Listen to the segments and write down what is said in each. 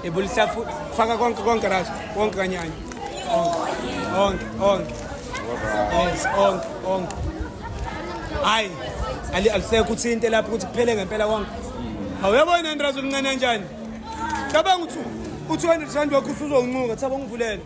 ebulisa futhi faka konke konke right konke kanyanya onke onke yes onke onke hayi ali alisekho uthinte lapho ukuthi kuphele ngempela konke awuyabona ndrazo mncane kanjani cabanga ukuthi u-200 rand wakho usuzonqunga thaba ngivulele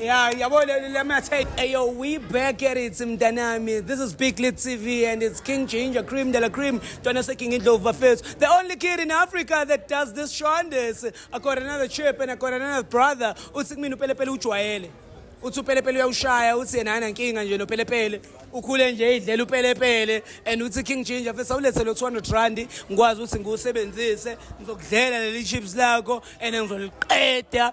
Yeah, yabo le- let me take ayo we back at it mntanami. This is Big Lit TV and it's King Ginger Cream de la Cream. Twana se King Indlovu bafethu. The only kid in Africa that does this shondes. I got another chip and I got another brother. Uthi kumina upelepele ujwayele. Uthi upelepele uyawushaya uthi yena ana nkinga nje nopelepele. Ukhule nje idlela upelepele and uthi King Ginger mfethu awulethe lo 200 rand ngikwazi ukuthi ngiwusebenzise ngizokudlela leli chips lakho and ngizoliqeda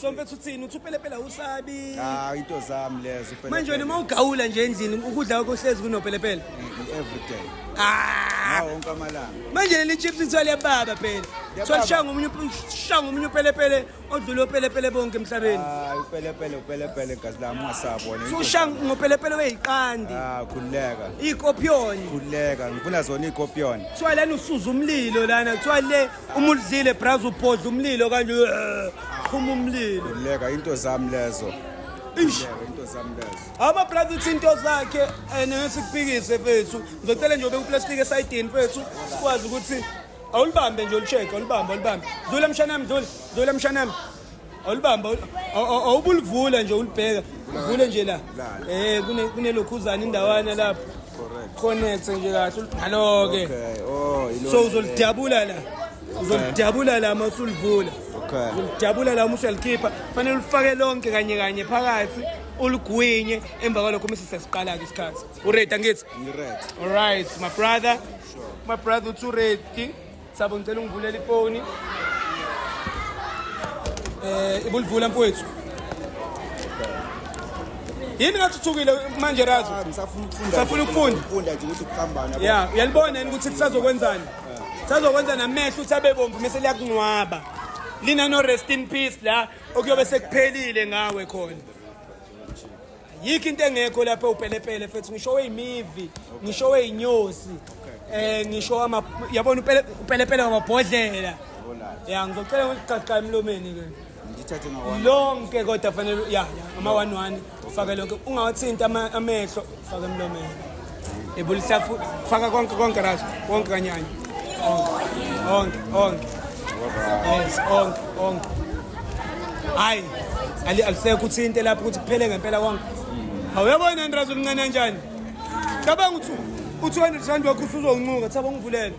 so mfethu uthini uthi upelepele awusabi ah into zami lezo upelepele manje wena uma ugawula nje endlini ukudla kwakho hlezi kunopelepele every day ah wonke amalanga manje leli chips ithwale baba phela thwala shanga umunye shanga umunye upelepele odlule upelepele bonke emhlabeni ah upelepele upelepele gazi lami ungasabona so shanga ngopelepele weyiqandi ah khululeka ikopion khululeka ngifuna zona ikopion thwala usuza umlilo lana thwale uma udlile braza ubhodla umlilo kanje phuma umlilo leka into zami lezo Ish. Leka into zami lezo Ama brother uthi into zakhe and ngesikupikise mfethu. Ngizocela nje ube uplastic esayidini mfethu sikwazi ukuthi awulibambe nje ulicheck awulibambe awulibambe. Dlula mshanami dlula dlula mshanami. awulibamba awubulivula nje ulibheka uvule nje la eh kune kunelokhuzana indawana lapho connect nje kahle ngalo ke oh, so uzolidabula la uzolidabula la masulivula uzolidabula la uma usuyalikhipha fanele ulifake lonke kanye kanye phakathi uligwinye emva kwalokho uma sesiqala ke isikhathi uready angithi ngiready all right my brother my brother uthi uready Sabo ngicela ungivulela ifoni. Eh ibulivula mfowethu. Yini ngathuthukile manje razo? Ah, ngisafuna ukufunda. Ngisafuna ukufunda. Ukufunda nje ukuthi kuhambana. Yeah, uyalibona yini ukuthi kusazokwenzani? Sazokwenza namehlo uthi abe bomvu mase liyakunwaba. Lina no rest in peace la okuyobe sekuphelile ngawe khona. yikho into engekho lapha upelepele fethu ngisho weyimivi ngisho weyinyosi eh ngisho ama yabona upelepele wamabhodlela ya ngizocela ngikuqaqqa emlomeni ke ngithathe ngawona lonke kodwa fanele ya ama one one faka lonke ungawathinta amehlo faka emlomeni ebulisa faka konke konke ras konke kanyanya onke onke yes onke onke hayi ali alisekho uthinte lapho ukuthi kuphele ngempela konke awuyabona ndrazi umncane kanjani cabanga ukuthi u-200 rand wakho usuzoncuka thaba ungivulele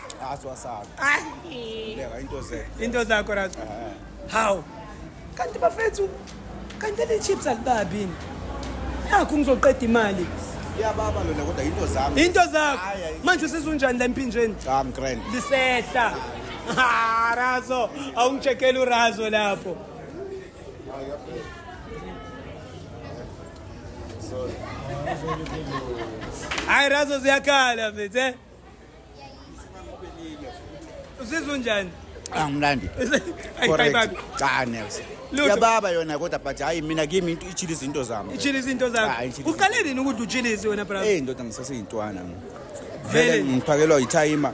asiwasabi Ayi. beka into ze into zakho razo hawu kanti bafethu kanti le chips alibabini nakho ngizoqeda imali iyababa lona kodwa into zami into zakho Hhayi, hhayi. manje usizunjani la emphinjeni cha mgrand lisehla Ha, razo awungitshekeli urazo lapho hayi razo ziyakhala mfethu eh? Uzizwa unjani? Angimlandi. Correct. Cha nelse. Yababa yona kodwa but hayi mina kimi into ichili izinto zami. Ichili izinto zami. Uqale nini ukuthi uchilise wena brother? Eh ndoda ngisaseyintwana. Vele ngiphakelwa ithayima.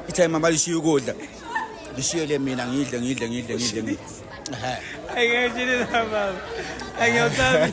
Ithayima balishiya ukudla. Lishiyele mina ngidle ngidle ngidle ngidle. Ehe. Ayike chili baba. Ayike usabi.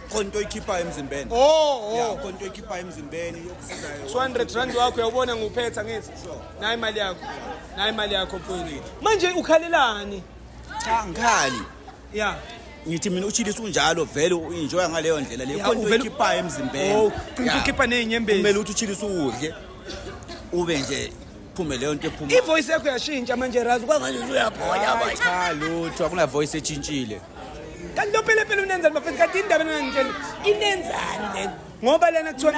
khona into oyikhiphayo emzimbeni oh ya oh. khona into oyikhiphayo emzimbeni yokusizayo 200 rand wakho uyawubona nguphetha ngithi nayi imali yakho nayi imali yakho mfowethu manje ukhalelani cha ngikhali ya ngithi mina uchilisa unjalo vele uenjoy ngaleyo ndlela le khona into oyikhiphayo emzimbeni oh ukhipha nezinyembezi kumele uthi uchilisa udle ube nje iphume leyo nto ephuma ivoice yakho yashintsha manje razi kwangani uyaphonya cha lutho akuna voice etshintshile kanti lo phela phela unenzani bafethu kanti indaba enangitshela inenzani lento ngoba lena kuthiwa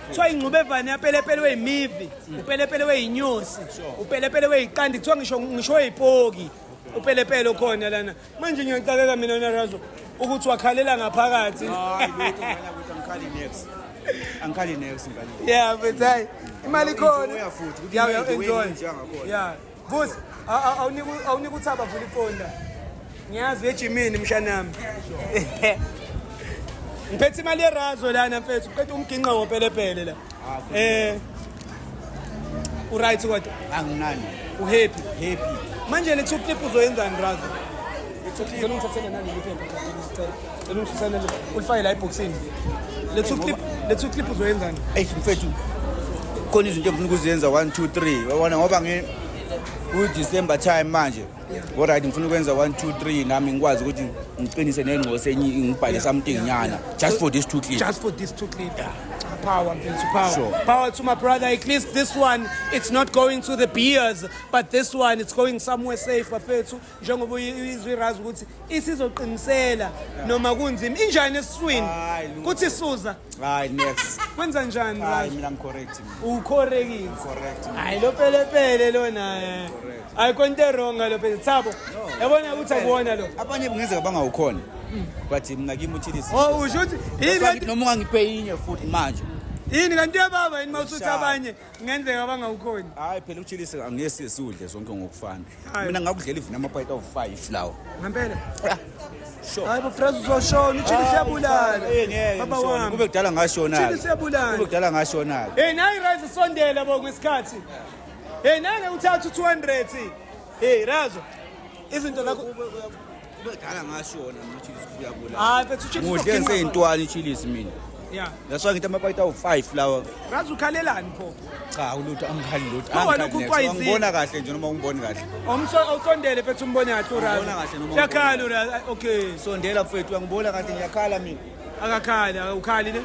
kuthiwa ingxubevane yapelepele weyimivi upelepele weyinyosi upelepele weyiqandi kuthiwa ngisho ngisho weyipoki upelepele okhona lana manje ngiyaxakeka mina narazo ukuthi wakhalela ngaphakathi angikhali nex ngani yeah but hayi imali khona uyafuthi uyaenjoy yeah Vusi, awunika uthaba vula ifoni la. Ngiyazi ejimini mshanami. Ngiphethe imali yerazo lana mfethu, ngiphethe umginqa wopelepele la. Ah, eh. U right kodwa? Anginani. U happy? Happy. Manje le two clip uzoyenzani razo? Ngicela ungithathele nani liphepha. Cela ungifisane nje ulifake la ebhoksini. Lethu clip, lethu clip uzoyenzani? Ey mfethu. Khona izinto engifuna ukuzenza 1 2 3. Wabona ngoba ngi ku December time manje. All right ngifuna ukwenza 1 2 3 nami ngikwazi ukuthi ngiqinise nengqose enye ngibhale something nyana just for these two clips. Just for these two clips. Yeah. power mfethu power sure. power to my brother at least this one it's not going to the beers but this one it's going somewhere safe bafethu njengoba izwi razi ukuthi isizoqinisela noma kunzima injani esiswini kuthi suza hayi next kwenza njani hayi mina ngicorrect ucorrect correct hayi lo pelepele lona eh. hayi konto wrong lo pele thabo yabona ukuthi akuwona lo abanye kungenzeka bangawukhona hmm. but mina kimi uthilisi oh usho ukuthi yini noma ungangiphe inye futhi manje yini kanti yababa yini mawusuthi abanye Kungenzeka abangawukhoni. Hayi phela uchilise angesi siwudle zonke ngokufana. Hayi. Mina ngakudlela even amapayita awu-5 lawo. Ngempela. Ah, Sure. Hayi bo Fraser uzoshona, uchili siyabulala. Eh, ngeke, Baba ngishona. wami. Kube kudala ngashona. Uchili siyabulala. Kube kudala ngashona. Hey nayi Razo sondela bo kwesikhathi. Hey nake uthatha u200. Hey Razo. Izinto zakho Ubedala ngasho wona mchilisi kubuya kula. Hayi mfethu uChiefs Muhle uzogcina- ngiseyintwani ichilisi mina. Yeah. That's why ngithi amapayita awu-5 lawa. Ngazi ukhalelani pho. Cha ulutho angikhali lutho. No, wena Angikhali next. ukukwayizi- Angibona kahle nje noma ungiboni kahle. Awumso awusondele mfethu umbone kahle Ubona kahle uRazi. noma Yakhala uRazi. Ay, Okay. Sondela mfethu angibona kahle ngiyakhala mina. Akakhali, awukhali ne?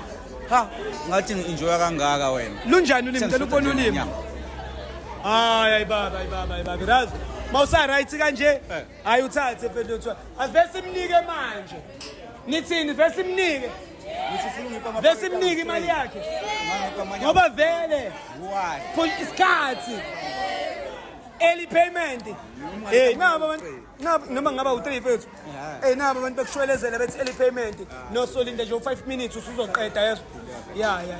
Ha, ngathi ngi-enjoya kangaka wena. Lunjani ulimi? Cela ubone ulimi. Hayi hayi baba, hayi baba, hayi baba. Razi. Mawusa right kanje. Eh. hayi uthathe fethu avele simnike manje nithini vele simnike vele simnike imali yakhe ngoba vele isikhathi early payment hey eh, nabo abantu noma ngaba u3 fethu hey eh, nabo abantu bekushwelezela bethi early payment no solinda nje u5 minutes usuzoqeda yeso yeah yeah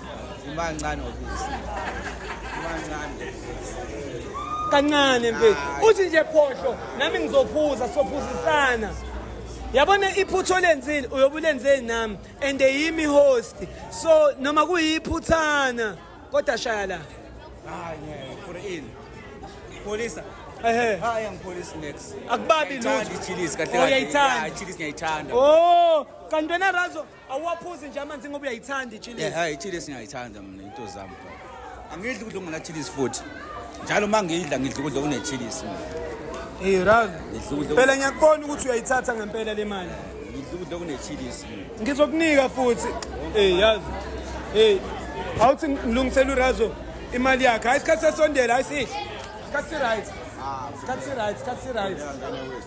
Umancane obisi. Umancane. Kancane mfethu. Uthi nje phohlo nami ngizophuza sophuzisana. yabona iphutha olenzile uyobe ulenzeni nami and yimi host so noma kuyiphuthana kodwa shaya la hayi ngeke for in polisa ehe hayi ngipolisi next akubabi lutho ngiyayithanda oh kanti wena razo Awuwaphuzi nje amanzi ngoba uyayithanda ichilisi. Yeah, hayi ichilisi ngiyayithanda mina into zami bro. Angidli ukudla ngona chilisi futhi. Njalo uma ngidla ngidla ukudla kune chilisi mina. Hey Raz. Phela ngiyakubona ukuthi uyayithatha ngempela le mali. Ngidla ukudla kune chilisi mina. Ngizokunika futhi. Hey yazi. Hey. Awuthi ngilungisela uRazo imali yakhe. Hayi isikhathi sesondela hayi sihle. Isikhathi right. Ah, isikhathi right, isikhathi right.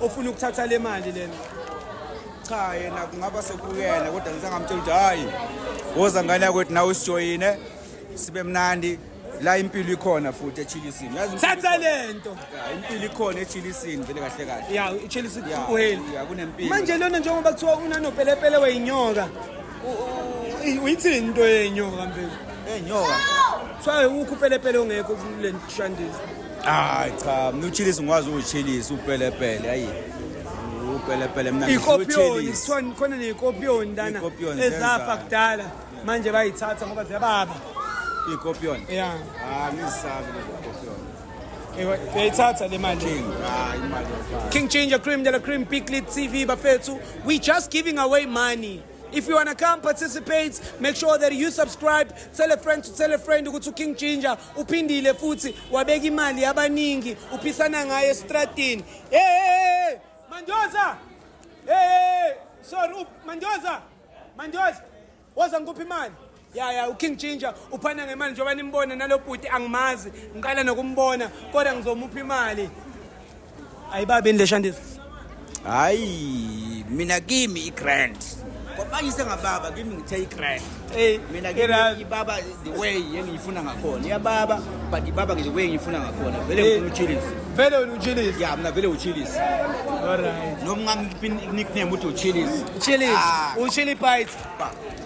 ofuna ukuthatha le mali lena cha yena kungaba sekuyena kodwa ngisangamtshela ukuthi hayi woza ngane yakwethu nawe usijoyine sibe mnandi la impilo ikhona futhi echilisini yazi thatha lento ah, impilo ikhona echilisini vele kahle kahle ya ichilisi kuheli ya kunempilo manje lona njengoba kuthiwa unanopelepele weyinyoka uyithini into yenyoka mfethu enyoka kuthiwa ukhupelepele ongekho kulenshandisi hayi cha mina uchilisi ngikwazi ukuchilisa upelepele ayi upelepele mina ikopiyoni kuthiwa khona neyikopiyoni lana Ikopiyoni ezafa zenza- kudala manje bayithatha ngoba ziyababa ikopiyoni ya hayi ngisabi lezo kopiyoni Ewa, uyayithatha le mali king hayi imali yokufaka. King Ginger Cream de la Cream Peak Lead TV Bafethu. We just giving away money. If you wanna come participate, make sure that you subscribe. Tell a friend to tell a friend ukuthi uKing Ginger uphindile futhi wabeka imali yabaningi uphisana ngayo estradini hey manjoza hey sorry up manjoza manjoza woza ngikuphi imali ya ya uking ginger uphana ngemali njengoba nimbona nalo bhuti angimazi ngiqala nokumbona kodwa ngizomupha imali ayibabini le shandisa hayi mina kimi i-grand kwabanye sengababa kimi ngithe i-grand Hey, mina kimi i-grand. ibaba the way engiyifuna ngakhona iyababa but ibaba the way engiyifuna ngakhona vele Hey. ngifuna uchilisi vele wena uchilisi ya mina vele uchilisi alright noma ngamnickname uthi uchilisi Chili's, Ah. uchili bites.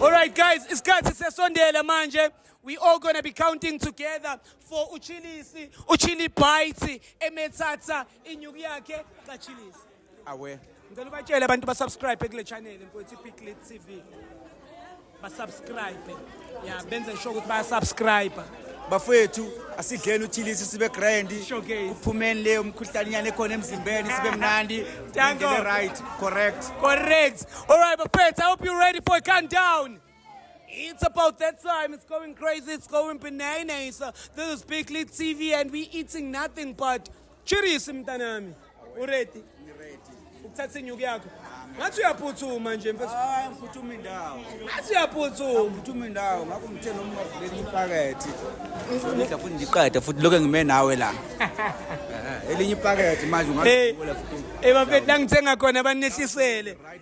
All right, guys, isikhathi sesondela manje. We all gonna be counting together. for uchilisi uchili bite emethatha inyuku yakhe kachilisi awe ngicela ubatshele abantu basubscribe kule channel mfowethu ipiclit tv basubscribe ya benze sure ukuthi bayasubscribe bafowethu asidleni uthilisi sibe grand Showcase. kuphumeni leyo mkhuhlanyana ekhona emzimbeni sibe mnandi Danko. indlela right correct correct all right bafethu i hope you're ready for a countdown It's about that time. It's going crazy. It's going bananas. This is Big Lead TV and we eating nothing but chirisi mntanami. Uredi? Ukuthatha inyuku yakho. Ngathi uyaphuthuma nje mfethu. Hayi ngiphuthume indawo. Ngathi uyaphuthuma. Ngiphuthume indawo. Ngakho ngithe noma ungavuleli ipakethi. Ngidla futhi ngiqeda futhi lokho ngime nawe la. Eh, elinye ipakethi manje ungavula futhi. Eh bafethu la ngithenga khona banehlisele. Right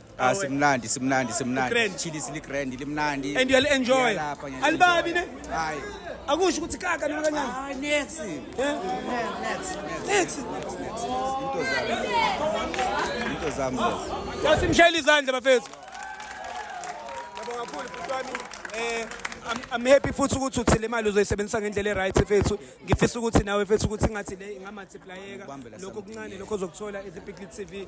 Ah simnandi simnandi simnandi. Grand. Chili sili grand limnandi. And you'll enjoy. Ngiyalapha, ngiyalapha. Alibabi ne? Hayi. Akusho ukuthi kaka noma kancane. Hayi next. Eh? Next. Next. Into zami. Into zami. lezi. Asimshayile izandla bafethu. Yabo kakhulu futhi wami eh I'm, I'm happy futhi ukuthi uthi le mali uzoyisebenzisa ngendlela e-right fethu ngifisa ukuthi nawe fethu ukuthi ngathi le ingamultiplayeka Ukubambela lokho something, kuncane lokho ozokuthola ezipikli TV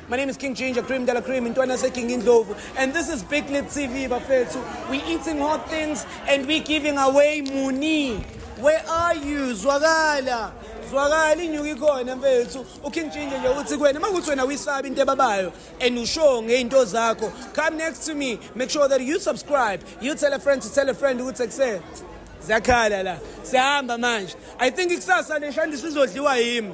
My name is King Ginger, Cream Della Cream, and Twana King Indlovu. And this is Big Lit TV, Bafetsu. We're eating hot things and we're giving away money. Where are you, Zwagala? zwakala inyuka ikhona mfethu uking ginger nje uthi kuwena uma kuthi wena uyisabi into ebabayo and ushow ngey'nto zakho come next to me make sure that you subscribe you tell a friend to tell a friend ukuthi kuse ziyakhala la siyahamba manje i think ikusasa leshandisa izodliwa yimi